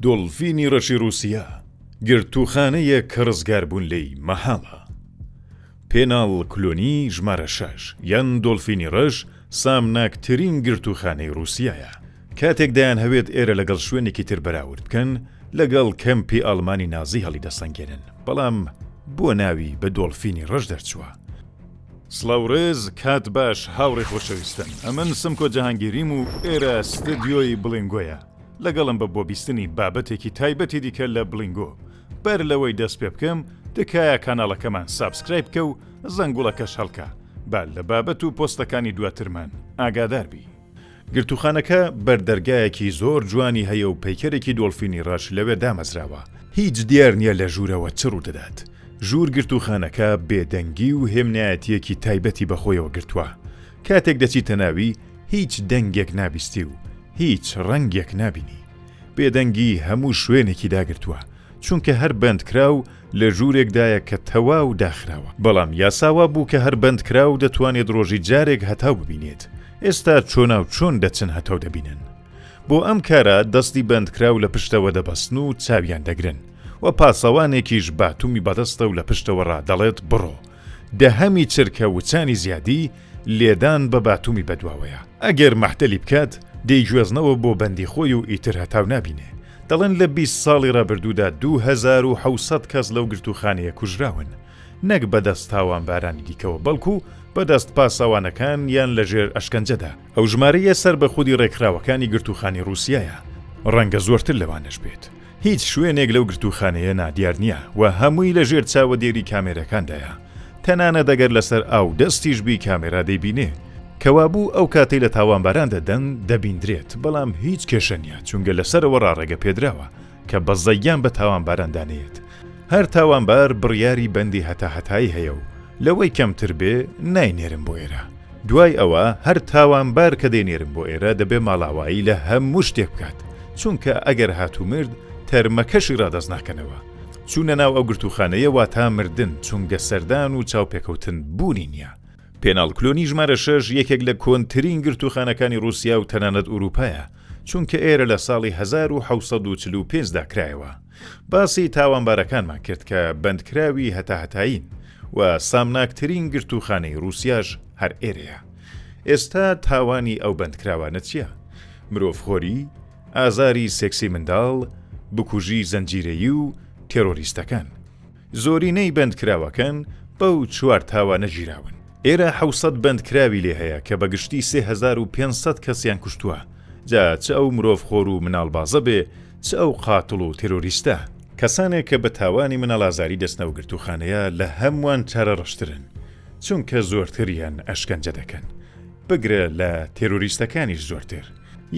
دۆڵفینی ڕەشی ڕووسیا، گرتووخانەیەک کە ڕزگاربوون لێی مەحاڵە. پێناڵ کلۆنی ژمارە شەش یان دۆڵفینی ڕەش سامناکترین گرتووخانەی ڕووسیایە. کاتێک دەیانهەوێت ئێرە لەگەڵ شوێنێکی تر بەراورد بکەن، لەگەڵ کەمپی ئاڵمانی نازی هەڵیدەسەنگێنن، بەڵام بۆ ناوی بە دۆڵفینی ڕەش دەرچووە؟ سڵاو ڕێز کات باش هاوڕێ خۆشەویستن ئەمن سمکۆ جەهانگیریم و ئێرە ستدیۆی بڵینگۆیە لەگەڵم بە بۆ بیستنی بابەتێکی تایبەتی دیکە لە بڵینگۆ بەر لەوەی دەست پێ بکەم تکایە کاناڵەکەمان سابسکرایب بکە و زەنگوڵەکەش هەڵکە با لە بابەت و پۆستەکانی دواترمان ئاگادار بی. گرتووخانەکە بەردەرگایەکی زۆر جوانی هەیە و پەیکەرێکی دۆڵفینی ڕەش لەوێ دامەزراوە، هیچ دیار نییە لە ژوورەوە چ ڕوودەدات. ژوور گرتووخانەکە بێدەنگی و هێمنایەتییەکی تایبەتی بەخۆیەوە گرتووە، کاتێک دەچیتە ناوی هیچ دەنگێک نابیستی و هیچ ڕەنگێک نابینی. بێدەنگی هەموو شوێنێکی داگرتووە، چونکە هەر بەندکراو لە ژوورێکدایە کە تەواو داخراوە، بەڵام یاسا وا بوو کە هەر بەندکراو دەتوانێت ڕۆژی جارێک هەتاو ببینێت، ئێستا چۆناو چۆن دەچن هەتاو دەبینن؟ بۆ ئەم کارە دەستی بەندکراو لە پشتەوە دەبەستن و چاویان دەگرن و پاسەوانێکیش باتومی بەدەستە و لە پشتەوە ڕا دەڵێت بڕۆ، دەهەمی چرکە وچانی زیادی، لێدان بە باتومی بەدواوەیە. ئەگەر مەحتەلی بکات، دەیگوێزنەوە بۆ بەندی خۆی و ئیتر هەتاو نابینێ. دەڵێن لە بیست ساڵی ڕابردوودا دوو هەزار و حەوت سەد کەس لەو گرتووخانەیە کوژراون، نەک بەدەست تاوانبارانی دیکەوە، بەڵکو بەدەست پاسەوانەکان یان لەژێر ئەشکەنجەدا. ئەو ژمارەیە سەر بە خودی ڕێکخراوەکانی گرتووخانەی ڕووسیایە، ڕەنگە زۆرتر لەوانەش بێت. هیچ شوێنێک لەو گرتووخانەیە نادیار نییە و هەمووی لەژێر چاوەدێری کامێرەکاندایە. تەنانەت ئەگەر لەسەر ئاو دەستیش بی کامێرا دەیبینێ کەوابوو ئەو کاتەی لە تاوانباران دەدەن دەبیندرێت بەڵام هیچ کێشە نییە چونگە لەسەرەوە ڕاڕێگە پێدراوە کە بەزەیان بە تاوانباران دانێت هەر تاوانبار بڕیاری بەندی هەتا هەتایی هەیە و لەوەی کەمتر بێ ناینێرن بۆ ئێرە دوای ئەوە هەر تاوانبار کە دەینێرن بۆ ئێرە دەبێ ماڵاوایی لە هەموو شتێک بکات چونکە ئەگەر هاتوو مرد تەرمەکەشی ڕادەست ناکەنەوە. چوونە ناو ئەو گرتووخانەیە واتا مردن، چونگە سەردان و چاوپێکەوتن بوونی نییە. پێناڵ کلۆنی ژمارە شەش یەکێک لە کۆنترین گرتووخانەکانی ڕووسیا و تەنانەت ئورووپایە، چونکە ئێرە لە ساڵی هەزار و حەوت سەد و چل و پێنج دا کرایەوە. باسی تاوانبارەکانمان کرد کە بەندکراوی هەتاهەتایین و سامناکترین گرتووخانەی ڕووسیاش هەر ئێرەیە. ئێستا تاوانی ئەو بەندکراوانە چییە؟ مرۆڤخۆری؟ ئازاری سێکسی منداڵ، بکوژی زنجیرەیی و تێرۆریستەکان. زۆرینەی بەندکراوەکان بەو چوار تاوانە گیراون. ئێرە حەوت سەد بەندکراوی لێ هەیە کە بە گشتی سێ هەزار و پێنج سەد کەسیان کوشتووە، جا چ ئەو مرۆڤخۆر و مناڵبازە بێ، چ ئەو قاتڵ و تێرۆریستە. کەسانێک کە بە تاوانی مناڵئازاری دەچنە و گرتووخانەیە لە هەمووان چارەڕەشترن، چونکە زۆرتریان ئەشکەنجە دەکەن، بگرە لە تێرۆریستەکانیش زۆرتر.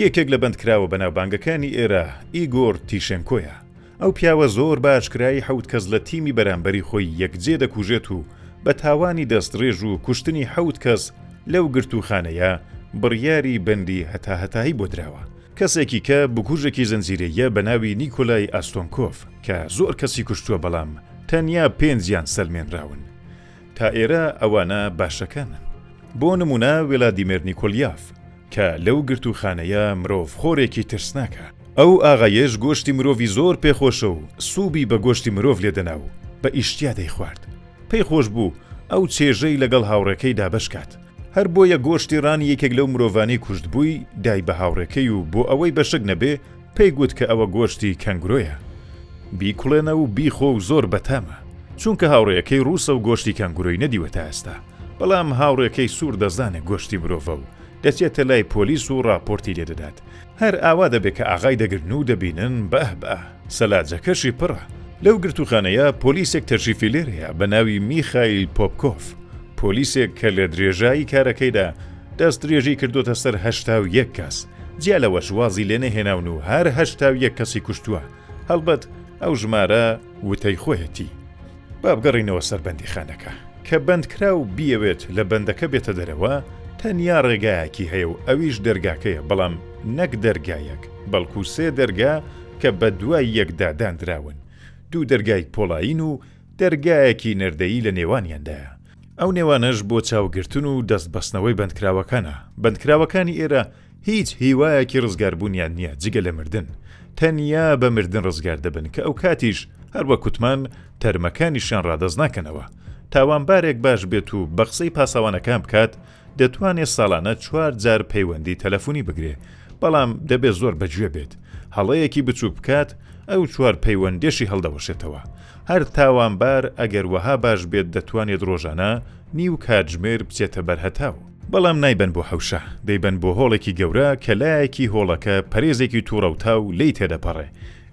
یەکێک لە بەندکراوە بەناوبانگەکانی ئێرە ئیگۆر تیشێنکۆیە. ئەو پیاوە زۆر بە ئاشکرایی حەوت کەس لە تیمی بەرامبەری خۆی یەکجێ دەکوژێت و بە تاوانی دەستڕێژ و کوشتنی حەوت کەس لەو گرتووخانەیە بڕیاری بەندی هەتاهەتایی بۆ دراوە. کەسێکی کە بکوژێکی زنجیرەییە بە ناوی نیکۆلای ئاستۆنکۆف کە زۆر کەسی کوشتووە بەڵام تەنیا پێنجیان سەلمێنراون. تا ئێرە ئەوانە باشەکانن. بۆ نموونە وێلادیمێر نیکۆلیاف. کە لەو گرتووخانەیە مرۆڤ خۆرێکی ترسناکە. ئەو ئاغایەش گۆشتی مرۆڤی زۆر پێ خۆشە و سوبی بە گۆشتی مرۆڤ لێ دەنا و بە ئیشتیا دەیخوارد. پێی خۆش بوو ئەو چێژەی لەگەڵ هاوڕێکەی دا بەش کات. هەر بۆیە گۆشتی ڕانی یەکێک لەو مرۆڤانەی کوشتبووی دای بە هاوڕێکەی و بۆ ئەوەی بە شک نەبێ پێی گوت کە ئەوە گۆشتی کەنگورۆیە. بیکوڵێنە و بیخۆ و زۆر بەتامە. چونکە هاوڕێیەکەی ڕووسە و گۆشتی کەنگورۆی نەدیوە تا ئێستا. بەڵام هاوڕێکەی سوور دەزانێ گۆشتی مرۆڤە و دەچێتە لای پۆلیس و ڕاپۆرتی لێ دەدات. هەر ئاوا دەبێ کە ئاغای دەگرن و دەبینن باه باه سەلاجەکەشی پڕە. لەو گرتووخانەیە پۆلیسێک تەشریفی لێ هەیە بە ناوی میخایل پۆپکۆڤ، پۆلیسێک کە لە درێژایی کارەکەیدا دەستدرێژی کردۆتە سەر هەشتا و یەک کەس، جیا لەوەش وازی لێ نەهێناون و هەر هەشتا و یەک کەسی کوشتووە، هەڵبەت ئەو ژمارە وتەی خۆیەتی. با بگەڕێینەوە سەر بەندیخانەکە. کە بەندکراو بیەوێت لە بەندەکە بێتە دەرەوە، تەنیا ڕێگایەکی هەیە و ئەویش دەرگاکەیە، بەڵام نەک دەرگا یەک، بەڵکو سێ دەرگا کە بەدوای یەکدا داندراون، دوو دەرگای پۆڵایین و دەرگایەکی نەردەیی لە نێوانیاندایە، ئەو نێوانەش بۆ چاوگرتن و دەستبەستنەوەی بەندکراوەکانە، بەندکراوەکانی ئێرە. هیچ هیوایەکی ڕزگاربوونیان نییە جگە لە مردن، تەنیا بە مردن ڕزگار دەبن کە ئەوکاتیش هەر وەک وتمان تەرمەکانیشیان ڕادەست ناکەنەوە. تاوانبارێک باش بێت و بە قسەی پاسەوانەکان بکات دەتوانێ ساڵانە چوار جار پەیوەندی تەلەفونی بگرێ بەڵام دەبێ زۆر بە گوێ بێت هەڵەیەکی بچووک بکات ئەو چوار پەیوەندێشی هەڵدەوەشێتەوە هەر تاوانبار ئەگەر وەها باش بێت دەتوانێت ڕۆژانە نیو کاتژمێر بچێتە بەر هەتاو. بەڵام نایبەن بۆ حەوشە، دەیبەن بۆ هۆڵێکی گەورە کە لایەکی هۆڵەکە پەرێزێکی توڕەوتاو لێی تێدەپەڕێ،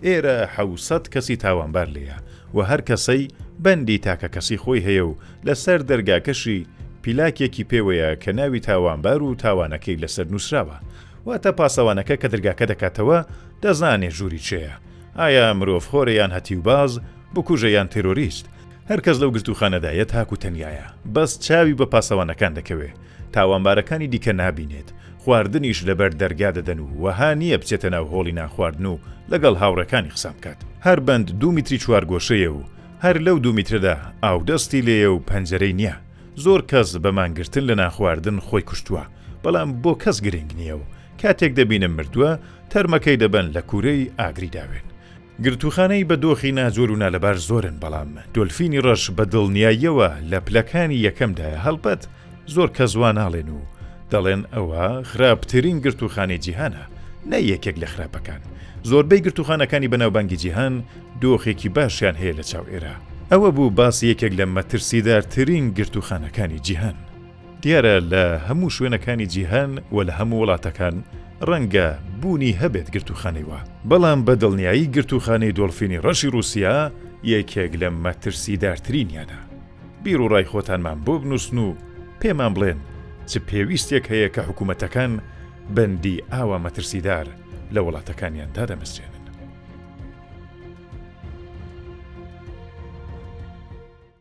ئێرە حەوسەت کەسی تاوانبار لێیە و هەر کەسەی بەندی تاکەکەسی خۆی هەیە و لە سەر دەرگاکەشی پیلاکێکی پێوەیە کە ناوی تاوانبار و تاوانەکەی لەسەر نوسراوە واتە پاسەوانەکە کە درگاکە دەکاتەوە دەزانێ ژووری چێیە ئایا مرۆڤ خۆرە یان هەتیوباز بکوژە یان تێرۆریست هەر کەس لەو گرتووخانەدا یە تاکو تەنیایە بەس چاوی بە پاسەوانەکان دەکەوێ تاوانبارەکانی دیکە نابینێت خواردنیش لەبەر دەرگا دەدەن و وەها نییە بچێتە ناو هۆڵی نانخواردن و لەگەڵ هاوڕێکانی قسان بکات هەر بەند دوو میتری چوارگۆشەیە و هەر لەو دوو میترەدا ئاودەستی لێیە و پەنجەرەی نییە زۆر کەس بە مانگرتن لە نانخواردن خۆی کوشتووە بەڵام بۆ کەس گرنگ نییە و کاتێک دەبینن مردووە تەرمەکەی دەبەن لە کوورەی ئاگری داوێن گرتووخانەی بە دۆخی ناجۆر و نالەبار زۆرن، بەڵام دۆلفینی ڕەش بە دڵنیاییەوە لە پلەکانی یەکەمدایە، هەڵبەت زۆر کەس وا ناڵێن و دەڵێن ئەوە خراپترین گرتووخانەی جیهانە نە یەکێک لە خراپەکان، زۆربەی گرتووخانەکانی بەناوبانگی جیهان دۆخێکی باشیان هەیە لە چاو ئێرە. ئەوە بوو باسی یەکێک لە مەترسیدارترین گرتووخانەکانی جیهان. دیارە لە هەموو شوێنەکانی جیهان و لە هەموو وڵاتەکان ڕەنگە بوونی هەبێت گرتووخانەی وا، بەڵام بە دڵنیایی گرتووخانەی دۆڵفینی ڕەشی ڕووسیا یەکێک لە مەترسیدارترینیانە. بیروڕای خۆتانمان بۆ بنووسن و پێمان بڵێن چ پێویستیەک هەیە کە حکومەتەکان بەندی ئاوا مەترسیدار لە وڵاتەکانیان دادەمەزرێنن.